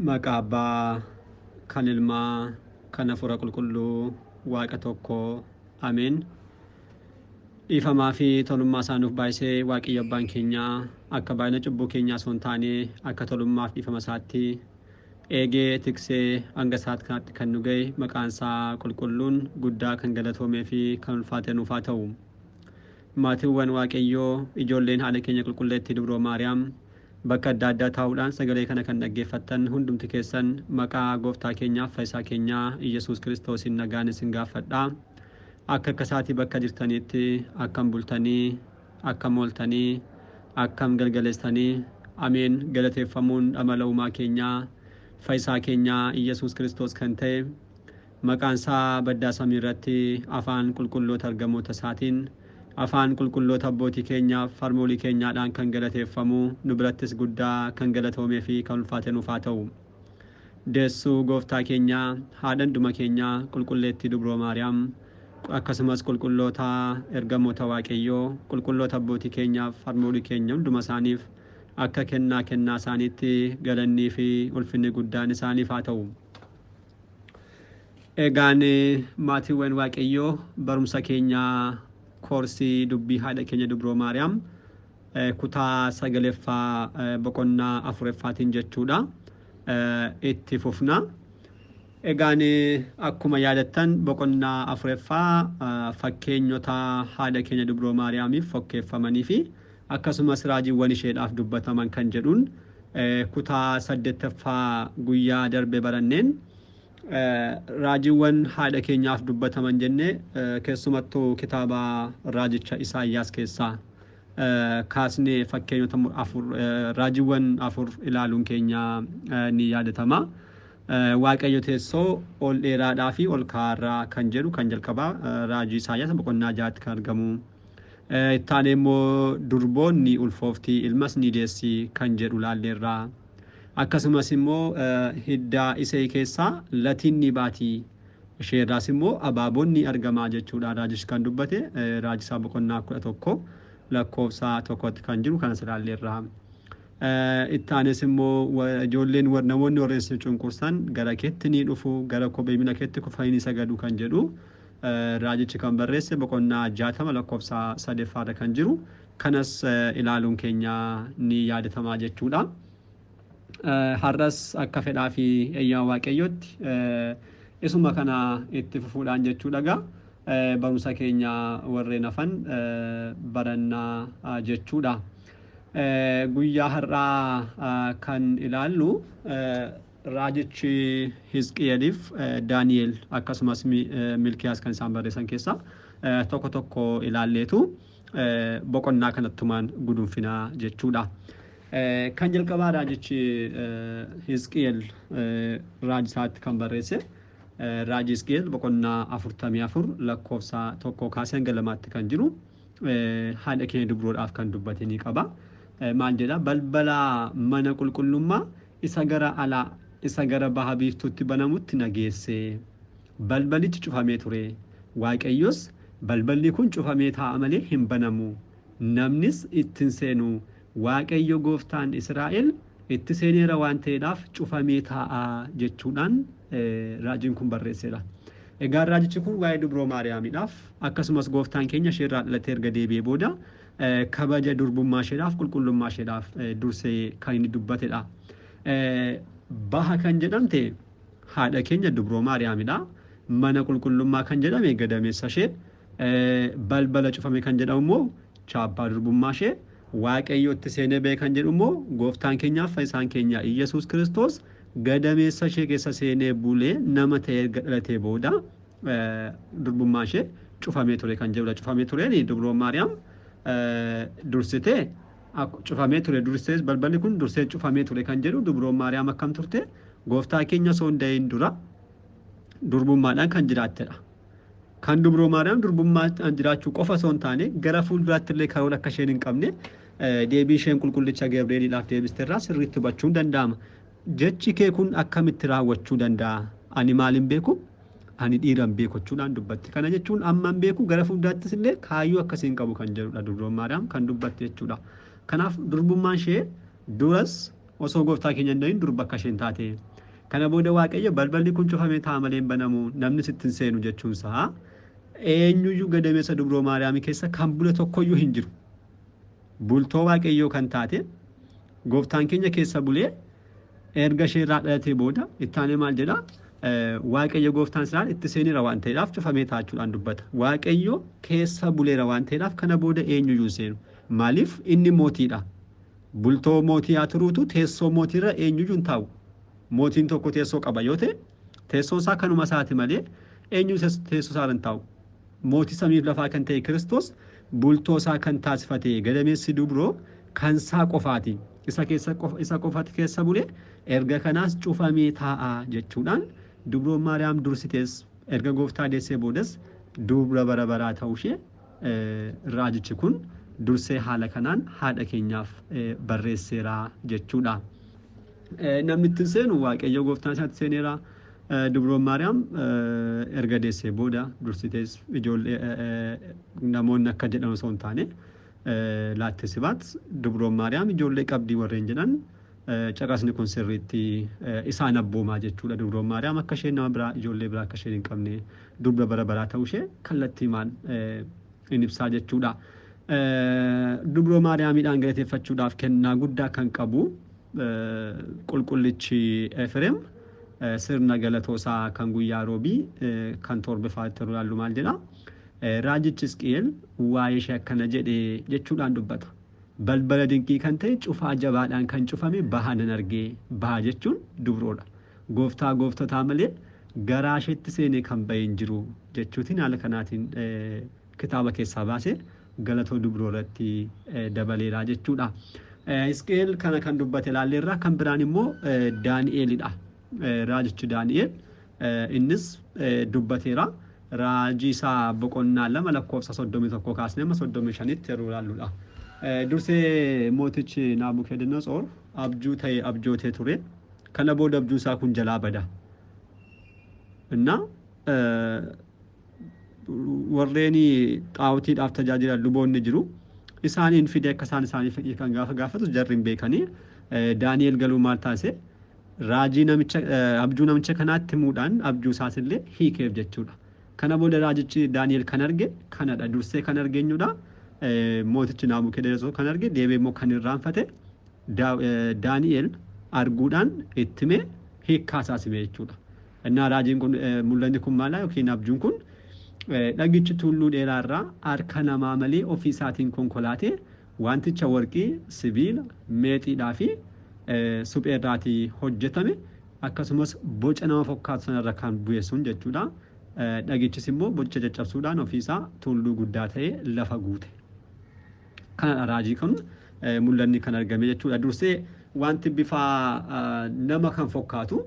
Maqaa Abbaa, kan Ilmaa, kan Hafuura Qulqulluu, Waaqa tokko. Ameen. Dhiifamaa fi tolummaa isaa nuuf baay'isee Waaqayyo Abbaan keenya akka baay'ina cubbuu keenyaa osoo hin taane akka tolummaaf dhiifama isaatti eegee tiksee hanga saat kanatti kan nu ga'e maqaan isaa qulqulluun guddaa kan galatoomee fi kan ulfaatee nuuf haa ta'u. Maatiiwwan Waaqayyoo ijoolleen haadha keenya qulqulleettii dubroo Maariyaam Bakka adda addaa taa'uudhaan sagalee kana kan dhaggeeffattan hundumti keessan maqaa Gooftaa keenyaaf Fayisaa keenyaa Iyyasuus Kiristoosiin nagaan isin gaaffadha. Akka akka isaatii bakka jirtaniitti akkam bultanii, akkam ooltanii, akkam galgaleessitanii? Ameen galateeffamuun dhamala uumaa keenyaa Fayisaa keenyaa Iyyasuus Kiristoos kan ta'e Maqaan isaa baddaa samii irratti afaan qulqulloota ergamoota isaatiin, afaan qulqulloota abbootii keenyaaf harmoolii keenyaadhaan kan galateeffamu, nu birattis guddaa kan galatoomee fi kan ulfaate nuuf haa ta'u. Deessuu Gooftaa keenyaa, Haadha hunduma keenyaa Qulqulleettii Dubroo Maariyaam, akkasumas qulqulloota ergamoota Waaqayyoo, qulqulloota abbootii keenyaaf harmoolii keenya hunduma isaaniif akka kennaa kennaa isaaniitti galannii fi ulfinni guddaan isaaniif haa ta'u. Egaan maatiiwwan Waaqayyoo barumsa keenya koorsii dubbii haadha keenya Dubroo Maariyaam eh, kutaa sagaleeffaa eh, boqonnaa afureffaatiin jechuudha eh, itti fufna. Egaan eh, akkuma yaadattan boqonnaa afureffaa eh, fakkeenyota haadha keenya Dubroo Maariyaamiif fokkeeffamanii fi Akkasumas raajiwwan isheedhaaf dubbataman kan jedhuun kutaa 8ffaa guyyaa darbe baranneen raajiwwan haadha keenyaaf dubbataman jenne keessumattu kitaaba raajicha Isaayyaas keessaa kaasne fakkeenyota afur raajiwwan afur ilaaluun keenya ni yaadatama. Waaqayyo teessoo ol dheeraadhaa fi ol kaa'aarraa kan jedhu kan jalqabaa raajii Isaayyaas boqonnaa 6tti kan argamu. Itti aanee immoo durboon ni ulfoofti, ilmas ni deessi kan jedhu laalleerra. Akkasumas immoo hidda Isey keessaa latiin ni baati, ishee irraas immoo abaaboon ni argama jechuudha raajichi kan dubbate. Raajisaa boqonnaa 11 lakkoofsa tokkotti kan jiru kanas ilaalleerra. Itti aanes immoo ijoolleen namoonni warreen si cunqursan gara keetti ni dhufu, gara kophee miila keetti kufanii ni sagadu kan jedhu Raajichi kan barreesse boqonnaa 60 lakkofsa 3 ffaarra kan jiru kanas ilaaluun keenya ni yaadatamaa jechuudha. Har'as akka fedhaa fi eeyyama Waaqayyootti isuma kana itti fufuudhaan jechuudha gaa barumsa keenya warreen hafan barannaa jechuudha. Guyyaa har'aa kan ilaallu Raajichi Hisqi'eliif Daani'el akkasumas Milkiyaas kan isaan barreessan keessaa tokko tokko ilaalleetu boqonnaa kanattumaan gudunfina jechuudha. Kan jalqabaa raajichi Hisqi'el raaji isaatti kan barreesse raaji Hisqi'el boqonnaa 44 lakkoofsa tokkoo kaasee hanga lamaatti kan jiru haadha keenya dubroodhaaf kan dubbate ni qaba. Maal jedha balbala mana qulqullummaa isa gara alaa isa gara baha biiftuutti banamutti na geesse. Balbalichi cufamee ture. Waaqayyos, Balballi kun cufamee taa'a malee hin banamu, namnis itti hin seenu, Waaqayyo Gooftaan Israa'el itti seeneera waan ta'eedhaaf cufamee taa'a jechuudhaan raajiin kun barreesseera. Egaa raajichi kun waa'ee Dubroo Maariyaamiidhaaf, akkasumas Gooftaan keenya ishee irraa dhalatee erga deebi'ee booda, kabaja durbummaasheedhaaf, qulqullummaasheedhaaf dursee kan inni dubbatedha. Baha kan jedhamte haadha keenya dubroo Maariyaamidha. Mana qulqullummaa kan jedhame gadameessashee, balbala cufame kan jedhamu immoo chaappaa durbummaashee, Waaqayyo itti seenee ba'e kan jedhu immoo gooftaan keenyaaf fayyisaan keenya Iyyasuus Kiristoos gadameessashee keessa seenee bulee nama ta'ee erga dhalatee booda durbummaa ishee cufamee ture kan jedhudha. Cufamee tureen dubroo Maariyaam dursitee cufamee ture dursee balballi kun dursee cufamee ture kan jedhu dubroo Maariyaam akkam turte gooftaa keenya osoo hin da'iin dura durbummaadhaan kan jiraattedha. Kan dubroo Maariyaam durbummaadhaan jiraachuu qofa osoo hin taane gara fuulduraatti illee karoora akka isheen hin qabne deebii isheen qulqullicha Gabri'eeliidhaaf deebisterraa sirriitti hubachuun danda'ama. Jechi kee kun akkamitti raawwachuu danda'a? Ani maal hin beeku, ani dhiira hin beeku jechuudhaan dubbatte. Kana jechuun amma hin beeku, gara fuulduraattis illee kaayyoo akkasii hin qabu kan jedhudha durboon Maariyaam kan dubbatte jechuudha. Kanaaf durbummaan ishee duras osoo gooftaa keenya hin dhahin durba akka isheen taate. Kana booda Waaqayyo balballi kun cufamee ta'a malee hin banamu, namnis itti hin seenu jechuunsaa eenyuyyuu gadameessa dubroo Maariyaamii keessa kan bule tokkoyyuu hin jiru. bultoo Waaqayyoo kan taate gooftaan keenya keessa bulee erga ishee irraa dhalatee booda itti aanee maal jedha Waaqayyo gooftaan isaan itti seeneera waan ta'eedhaaf cufamee taachuudhaan dubbata. Waaqayyo keessa buleera waan ta'eedhaaf kana booda eenyuyyuu hin seenu. Maaliif inni mootiidha. Bultoo mootii haa turuutu teessoo mootiirra eenyuyyuu hin taa'u. Mootiin tokko teessoo qaba yoo ta'e teessoon isaa kanuma isaati malee eenyu teessoo isaarra hin taa'u. Mootii samiif lafaa kan ta'e Kiristoos bultoo isaa kan taasifate gadameessi dubroo kan isaa qofaati. Isa keessa qofa isa qofati keessa bule erga kanaas cufamee taa'a jechuudhaan dubroon Maariyaam dursitees erga gooftaa deessee boodas dubra bara baraa ta'uu ishee eh, raajichi kun dursee haala kanaan haadha keenyaaf eh, barreesseera jechuudha. Namni itti seenu Waaqayyo gooftaan isaatti seeneera. Dubroon Maariyaam erga deessee booda dursitees ijoollee namoonni akka jedhan osoo hin taane laatte sibaat dubroon Maariyaam ijoollee qabdii warreen jedhan caqasni kun sirriitti isaan abboomaa jechuudha. Dubroon Maariyaam akka isheen nama biraa ijoollee biraa akka isheen hin qabne dubra bara baraa ta'uu ishee kallattii maal in ibsaa jechuudha. Dubroo Maariyaamiidhaan galateeffachuudhaaf kennaa guddaa kan qabu Qulqullichi Efreem sirna galatoo isaa kan guyyaa roobii kan toorbefaatti yeroo ilaallu maal jedha? Raajichi Hisqi'eel waa'ee ishee akkana jedhe jechuudhaan dubbata. Balbala dinqii kan ta'e cufaa jabaadhaan kan cufame baha nan arge. Baha jechuun dubroodha. Gooftaa gooftotaa malee garaa isheetti seenee kan ba'e hin jiru jechuutiin haala kanaatiin kitaaba keessaa baase galatoo dubroo irratti dabaleera jechuudha. Hisqi'eel kana kan dubbate ilaalleerra kan biraan immoo Daani'eelidha. Raajichi Daani'eel innis dubbateera. Raajii isaa boqonnaa lama lakkoofsa soddomii tokko kaasnee amma soddomii shanitti yeroo ilaalludha. Dursee mootichi Naabukadnetsoor abjuu ta'e abjootee ture. Kana booda abjuu isaa kun jalaa bada. Innaa warreen xaa'otiidhaaf tajaajilan luboonni jiru. Isaaniin fidee akka isaan isaaniif hiikan gaafa gaafatus jarri hin beekanii. Daani'el galuu maal taasise? Raajii namicha abjuu namicha kanaatti himuudhaan abjuu isaas illee hiikeef jechuudha. Kana booda raajichi Daani'el kan arge kanadha. Dursee kan arge eenyudha? Mootichi Naabukedonosor kan arge deebi'ee immoo kan irraanfate Daani'el arguudhaan itti himee hiikkaa isaas hime jechuudha. Ennaa raajiin kun, mul'anni kun maala yookiin abjuun kun, Dhagichi tulluu dheeraa irraa harka namaa malee ofii isaatiin konkolaatee wanticha warqii, sibiila, meetiidhaa fi suphee irraatii hojjetame akkasumas boca nama fokkaatu sana irra kan bu'e sun jechuu dha. Dhagichis immoo bocicha caccabsuudhaan ofii isaa tulluu guddaa ta'ee lafa guute. Kanadha raajii kun mul'anni kan argame jechuudha. Dursee wanti bifa nama kan fokkaatu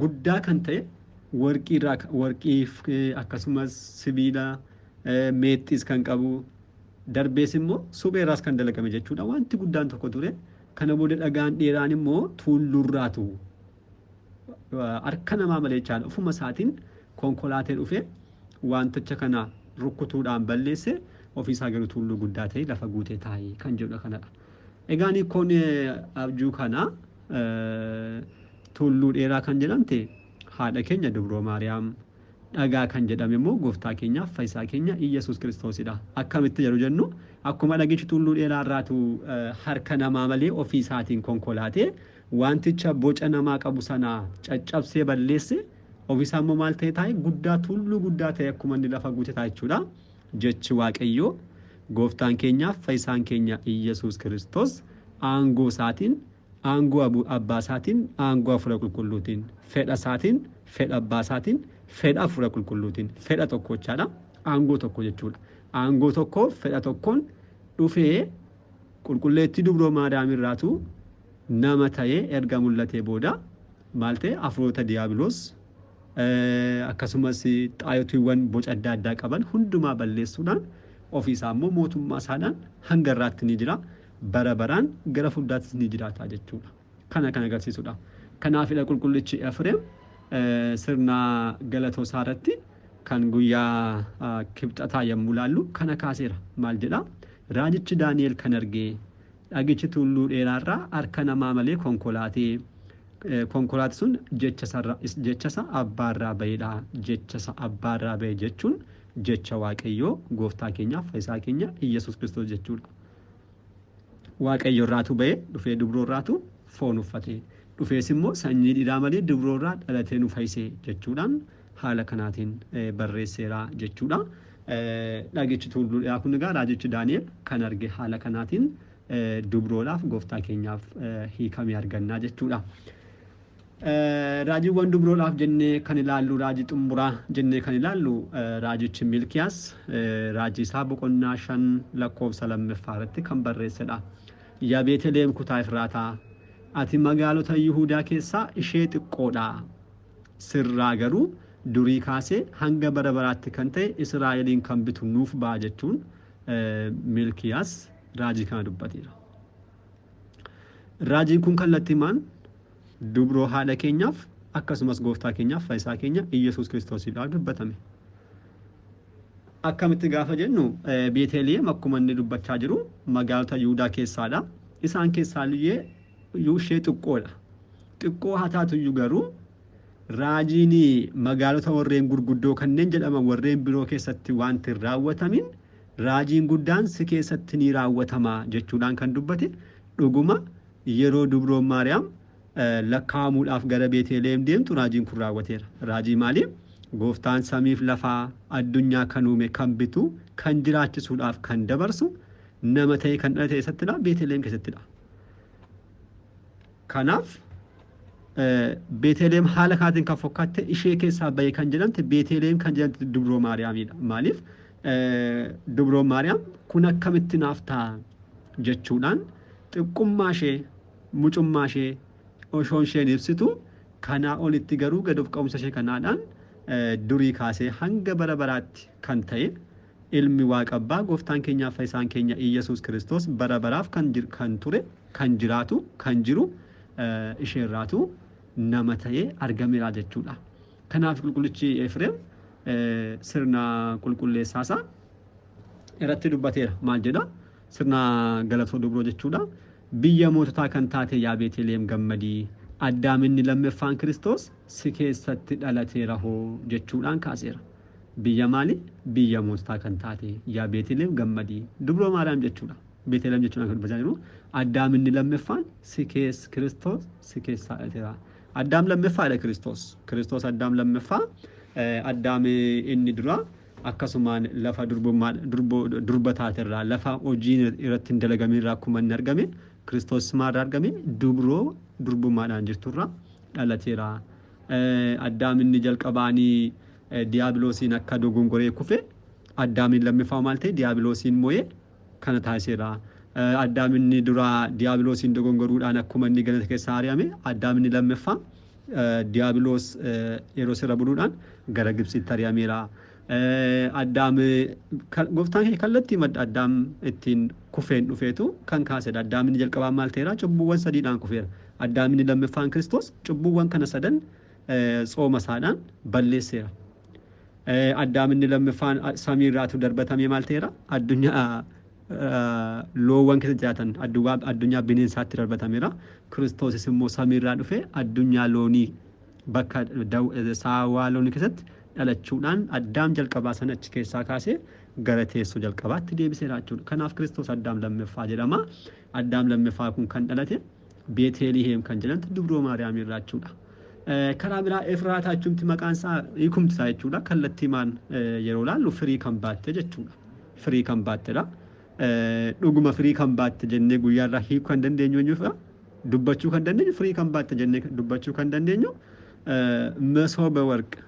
guddaa kan ta'e warqii irraa warqii akkasumas sibiila meexxiis kan qabu darbees immoo suphee irraas kan dalagame jechuudha. Wanti guddaan tokko ture. Kana booda dhagaan dheeraan immoo tuulluurraatu harka namaa malee jechaadha ofuma isaatiin konkolaatee dhufee wanticha kana rukkutuudhaan balleesse ofiisaa garuu tulluu guddaa ta'e lafa guutee taa'e kan jedhudha kanadha. Egaan hiikkoon abjuu kana tulluu dheeraa kan jedhamte haadha keenya dubroo maariyaam dhagaa kan jedhame immoo gooftaa keenya fayyisaa keenya Iyyasuus Kiristoosidha. Akkamitti yeroo jennu akkuma dhagichi tulluu dheeraa irraatu harka namaa malee ofii isaatiin konkolaatee Wanticha boca namaa qabu sana caccabsee balleesse, ofisaa immoo maal ta'ee taa'e? Guddaa, tulluu guddaa ta'ee akkuma inni lafa guute taa'e jechuudha. Jechi Waaqayyoo Gooftaan keenya Fayyisaan keenya Iyyasuus Kiristoos aangoo isaatiin, aangoo abu- abbaa isaatiin, aangoo Hafuura Qulqulluutiin, fedha isaatiin, fedha abbaa isaatiin, fedha Hafuura Qulqulluutiin, fedha tokkochaadha. Aangoo tokko jechuudha. Aangoo tokko fedha tokkoon dhufee qulqulleettii dubroo maadaamii irraatu nama ta'ee erga mul'atee booda maal ta'e? Hafuurota Diyaabiloos akkasumas xaayotiiwwan boca adda addaa qaban hundumaa balleessuudhaan ofii isaa immoo mootummaa isaadhaan hanga irraatti ni jira, bara baraan gara fuuldaattis ni jiraata jechuu dha. Kana kan agarsiisu dha. Kanaaf dha qulqullichi Efireem sirna galatoo isaa irratti kan guyyaa kibxataa yommuu laallu kana kaaseera. Maal jedha? Raajichi Daani'el kan arge Dhagichi tulluu dheeraa irraa harka namaa malee konkolaate. Konkolaati sun jechasa abbaa irraa ba'edha. Jechasa abbaa irraa ba'e jechuun jecha Waaqayyoo gooftaa keenyaaf fayyisaa keenya Iyyasuus Kiristoos jechuudha. Waaqayyo irraatu ba'e dhufee dubroo irraatu foon uffate. Dhufees immoo sanyii dhiiraa malee dubroo irraa dhalatee nu fayyise jechuudhaan haala kanaatiin barreesseera jechuudha. Dhagichi tuulluudhaa kun egaa raajichi Daani'el kan arge haala kanaatiin dubroodhaaf gooftaa keenyaaf hiikamee argannaa jechuudha. Raajiiwwan dubroodhaaf jennee kan ilaallu raajii xumuraa jennee kan ilaallu raajichi Milkiyaas raajii isaa boqonnaa shan lakkoofsa lammaffaa irratti kan barreessedha. Yaa Beeteliheem kutaa Efraataa ati magaalota Yihuudaa keessaa ishee xiqqoodha. sirraa garuu durii kaasee hanga bara baraatti kan ta'e Israa'eliin kan bitu nuuf ba'a jechuun Milkiyaas raajii kana dubbateera. Raajiin kun kallattiimaan dubroo haadha keenyaaf akkasumas gooftaa keenyaaf fayyisaa keenya Iyyasuus Kiristoosiidhaaf dubbatame. Akkamitti gaafa jennu Beeteliyeem akkuma inni dubbachaa jiru magaalota Yihudaa keessaadha. Isaan keessaa illee iyyuu ishee xiqqoodha. Xiqqoo haa taatu iyyuu garuu raajiin magaalota warreen gurguddoo kanneen jedhaman warreen biroo keessatti waanti hin raawwatamin raajiin guddaan si keessatti ni raawwatama jechuudhaan kan dubbate dhuguma yeroo dubroon Maariyaam lakkaa'amuudhaaf gara Beeteliheem deemtu raajiin kun raawwateera. Raajii maalii? Gooftaan samiif lafaa addunyaa kan uume kan bitu kan jiraachisuudhaaf kan dabarsu nama ta'ee kan dhalate eessattidha? Beeteliheem keessattidha. Kanaaf Beeteleem haala kaatiin kan fokkaatte ishee keessaa bahee kan jedhamte Beeteleem kan jedhamte Dubroo Maariyaamiidha. Maaliif Dubroo Maariyaam kun akkamitti naaf ta'a jechuudhaan xiqqummaa ishee mucummaa ishee osoo isheen ibsitu kanaa olitti garuu gad of qabumsa ishee kanaadhaan durii kaasee hanga bara baraatti kan ta'e Ilmi Waaqa Abbaa, Gooftaan keenyaaf Fayyisaan keenya Iyyasuus Kiristoos bara baraaf kan jir kan ture, kan jiraatu, kan jiru, ishee irraatu nama ta'ee argameera jechuu dha. Kanaaf Qulqullichi Eefreem sirna qulqulleessaa isaa irratti dubbateera. Maal jedha? Sirna Galatoo Dubroo jechuu dha. Biyya moototaa kan taate yaa Beeteliyeem gammadii, Addaam inni lammeffaan Kiristoos si keessatti dhalateera hoo jechuudhaan kaaseera. Biyya maali? Biyya moostaa kan taate, yaa Beeteliheem gammadi! Dubroo Maariyaam jechuu dha. Beeteliheem jechuun akka dubbachaa jiru, Addaam inni lammeffaan si kees, Kiristoos si keessaa dhalateera. Addaam lammeffaa dha Kiristoos. Kiristoos Addaam lammeffaa, eh, Addaam inni duraa akkasumaan lafa durbummaa, durbo, durba taate irraa, lafa hojiin irratti hin dalagamin irraa akkuma inni argame, Kiristoos maal irraa argame? Dubroo durbummaadhaan jirtu irraa dhalateera. Addaam inni jalqabaa ni Diyaabiloosiin akka dogongoree kufe, Addaamiin lammiffaa maal ta'e? Diyaabiloosiin mo'e, kana taasiseera. Addaam inni duraa Diyaabiloosiin dogongoruudhaan akkuma inni ganata keessaa ari'ame, Addaam inni lammiffaa Diyaabiloos yeroo sirra buluudhaan gara Gibtsiitti ari'ameera. Addaam gooftaan keenya kallattii madda Addaam ittiin kufeen dhufeetu kan kaasedha. Addaam inni jalqabaan maal ta'eera? Cubbuuwwan sadiidhaan kufeera. Addaam inni lammaffaan Kiristoos cubbuuwwan kana sadan tsooma isaadhaan balleesseera. Addaam inni lammaffaan samii irraatu darbatamee maal ta'eera? Addunyaa loowwan keessa jiraatan addunyaa bineensaatti darbatameera. Kiristoosis immoo samii irraa dhufee addunyaa loonii Bakka saawaa loonii keessatti dhalachuudhaan Addaam jalqabaa sana achi keessaa kaasee gara teessoo jalqabaatti deebiseera jechuudha. Kanaaf Kiristoos Addaam lammaffaa jedhama. Addaam lammaffaa kun kan dhalate Beeteliheem kan jedhamtu Dubroo Maariyaamii irraa jechuudha. Karaa biraa Efraataa jechuumti maqaan isaa hiikumti isaa jechuudha. Kallattiimaan yeroo ilaallu firii kan baatte jechuudha. Firii kan baattedha. Dhuguma firii kan baatte jennee guyyaa irraa hiikuu kan dandeenyu eenyuufidha? Dubbachuu kan dandeenyu firii kan baatte jennee dubbachuu kan dandeenyu masooba warq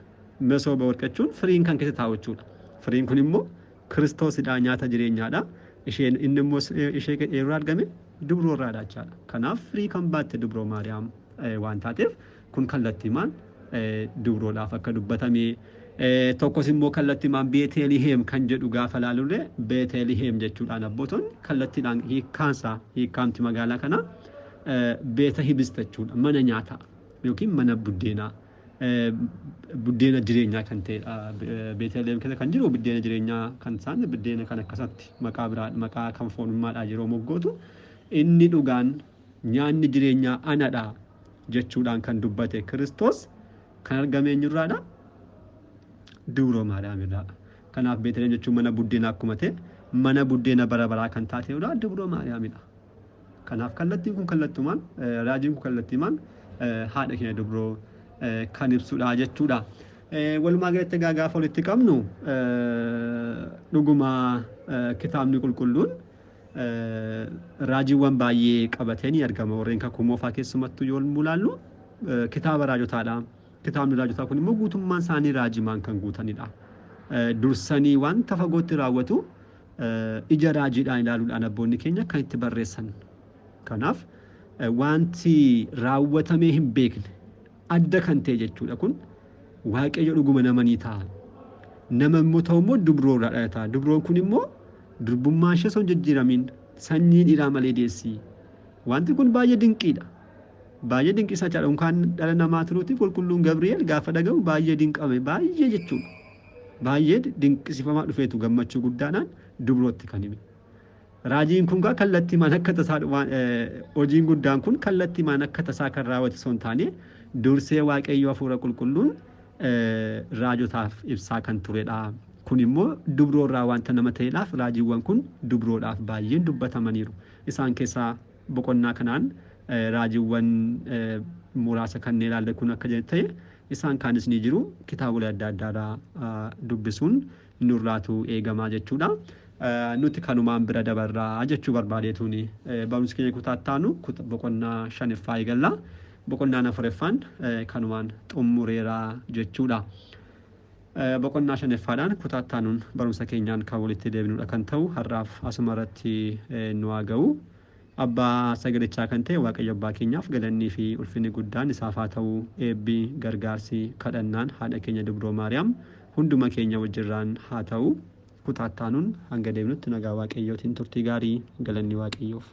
masooba warq jechuun firiin kan keessa taa'u jechuudha. Firiin kun immoo kiristoosidha nyaata jireenyaadha. Isheen inni immoo ishee eeruu argame dubroo irraadha jechaadha. Kanaaf firii kan baatte dubroo maariyaam waan taateef Kun kallattimaan dubroodhaaf akka dubbatame, tokkos immoo kallattimaan Beeteliheem kan jedhu gaafa ilaalullee Beeteliheem jechuudhaan abbootonni kallattiidhaan hiikkaansaa hiikkaamti magaalaa kanaa beeta hibista jechuudha mana nyaataa yookiin mana buddeenaa buddeena jireenyaa kan ta'edha. Beeteliheem keessa kan jiru buddeena jireenyaa kan isaan buddeena kan akkasatti maqaa biraa maqaa kan foonummaadhaa yeroo moggootu inni dhugaan nyaanni jireenyaa anadha jechuudhaan kan dubbate Kiristoos kan argame eenyurraadha? Dubroo Maariyaamidha. Kanaaf Beeteliheem jechuun mana buddeena akkuma ta'e mana buddeena bara baraa kan taate irraa Dubroo Maariyaamidha. Kanaaf kallattiin kun kallattumaan raajiin kun kallattiimaan haadha keenya dubroo kan ibsudha jechuudha. Walumaa galatti egaa gaafa walitti qabnu dhuguma kitaabni qulqulluun raajiiwwan baay'ee qabatee ni argama. Warreen kakuu moofaa keessumattuu yoo mulaallu kitaaba raajotaadha. Kitaabni raajotaa kun immoo guutummaan isaanii raajimaan kan guutanidha. Dursanii wanta fagootti raawwatu ija raajiidhaan ilaaluudhaan abboonni keenya kan itti barreessan. Kanaaf wanti raawwatamee hin beekne adda kan ta'e jechuudha kun waaqayyo dhuguma nama ni ta'a. Nama immoo ta'u immoo dubroo irraa dhalata. Dubroon kun immoo durbummaa ishee osoo hin jijjiiramiin sanyii dhiiraa malee deessi. Wanti kun baay'ee dinqiidha. Baay'ee dinqisaa jira. Unkaan dhala namaa turuuti qulqulluun Gabri'eel gaafa dhagahu baay'ee dinqame baay'ee jechuudha. Baay'ee dinqisifamaa dhufeetu gammachuu guddaadhaan dubrootti kan hime. Raajiin kun kaa kallattiimaan akka tasaa dhumaan hojiin guddaan kun kallattiimaan akka tasaa kan raawwate osoo hin taane dursee waaqayyo hafuura qulqulluun raajotaaf ibsaa kan turedha. Kun immoo dubroo irraa wanta nama ta'eedhaaf raajiiwwan kun dubroodhaaf baay'een dubbatamaniiru. Isaan keessaa boqonnaa kanaan raajiiwwan muraasa kanneen ilaalle kun akka ta'e isaan kaanis ni jiru kitaabolee adda addaarraa dubbisuun nurraatu eegamaa jechuudha. Nuti kanumaan bira dabarra jechuu barbaadeetuuni. Barumsi keenya kutaa itti aanu boqonnaa shaniffaa eegalla. Boqonnaan afureffaan kanumaan xummureera jechuudha. Boqonnaa shaniffaadhaan kutaa itti aanuun barumsa keenyaan kan walitti deebinuudha kan ta'u har'aaf asuma irratti nu haa ga'u. Abbaa sagalichaa kan ta'e Waaqayyo Abbaa keenyaaf galannii fi ulfinni guddaan isaaf haa ta'u, eebbi, gargaarsi, kadhannaan Haadha keenya Dubroo Maariyaam hunduma keenya wajjirraan haa ta'u. Kutaa itti aanuun hanga deebinutti nagaa Waaqayyootiin turtii gaarii. Galanni Waaqayyoof!